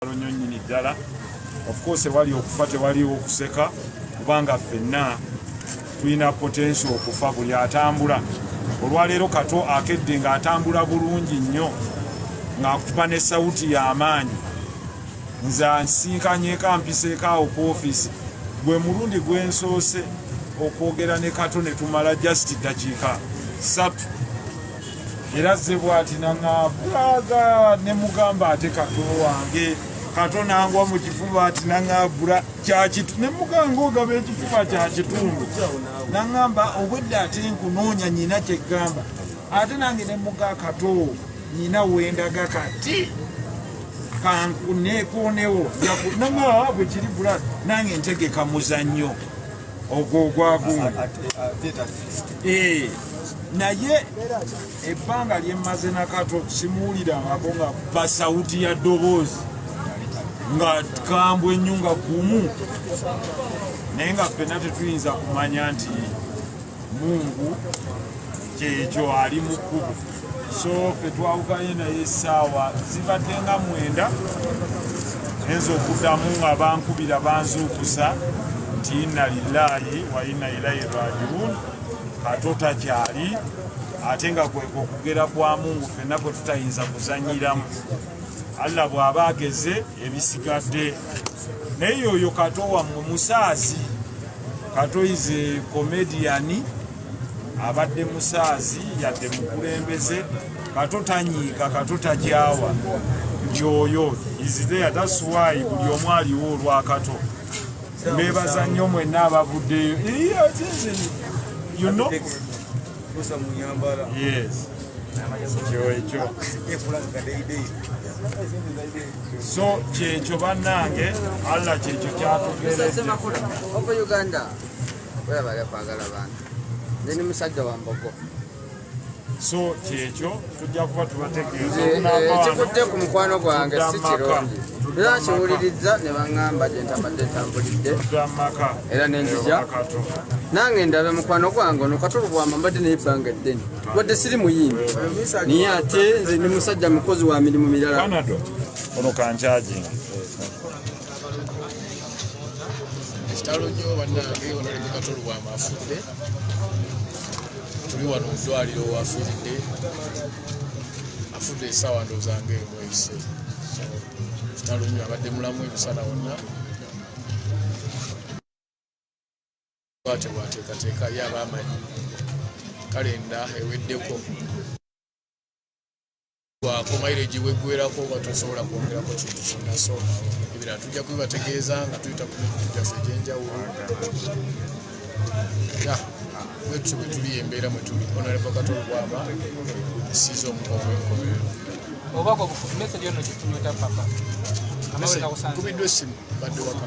nyo nyini ddala of course ewali okufa tewaliwo okuseka kubanga ffenna tulina potensi okufa buli atambula olwaleero kato akedde ng'atambula bulungi nnyo ng'akutuba ne sawuti y'amaanyi nze ansinkanyeko ampiseekaawo ku ofiisi gwe mulundi gwensoose okwogera ne kato ne tumala just ddakiika satu era ze bwati naŋabulaga ne mugamba ate kato wange kato nangwa mu kifuba ati naŋabula kyakitu ne muganga ogaba ekifuba kya kitundu naŋamba obwedde ate nkunoonya nyina kyegamba ate nange ne muga kato nyina wendaga kati kanekunewo naŋaa bwe kiri bula nange ntegeka muzannyo ogwo ogwagumu naye ebbanga lyemmaze nakato simuwulirangako nga basawuti ya ddoboozi nga kambwe ennyo nga gumu naye nga ffena tetuyinza kumanya nti mungu kyekyo ali mu kkubo so fe twawukanye naye essaawa zibadde nga mwenda enza okuddamu nga bankubira banzuukusa nti inna lillahi wa inna ilaihi rajiun kato takyali ate nga kweka okugera kwa mungu fenna kwe tutayinza kuzanyiramu allah bw'aba ageze ebisigadde naye yoyo kato wammwe musaazi kato ize komediyani abadde musaazi yadde mukulembeze kato tanyiika kato takyawa yoyo izideyatasuwaayi buli omu aliwo olwakato mbebaza nnyo mwenna abavuddeyo so kyekyo bannange allah kyekyo kyatugeeauganda webale kwagala bantu ndi ni musajja wa mbogo so kyekyo tujja kuba tubategeezaekikudde ku mukwano gwange si kirungi era kiwulirizza ne baŋŋamba gye ntabadde ntambulidde era nenzija nange ndabe mukwano gwange ono katulu bwamba mbadde naye ebbanga eddene wadde siri muyimbi naye ate nze ndi musajja mukozi wa mirimu mirala ono kankyajinga kitalo nyo banange onalembe katolo wama afudde tuli wano mudwaliro wafiridde afudde esawa ndozange emweyise kitalo nyo abadde mulamu emisana wonna bwatebwateekateeka ye abaamanyi kalenda eweddeko ku maireji weggwerako oba tosobola kwongerako kintu kyonna so ebirala tujja kubibategeeza nga tuyita ku mikutu gyaffe egyenjawulo wetutyo bwe tuli embeera mwe tuli onaleva katolo bwaba esiiza omukovu enkomerero obakubiddwa essimu badde waka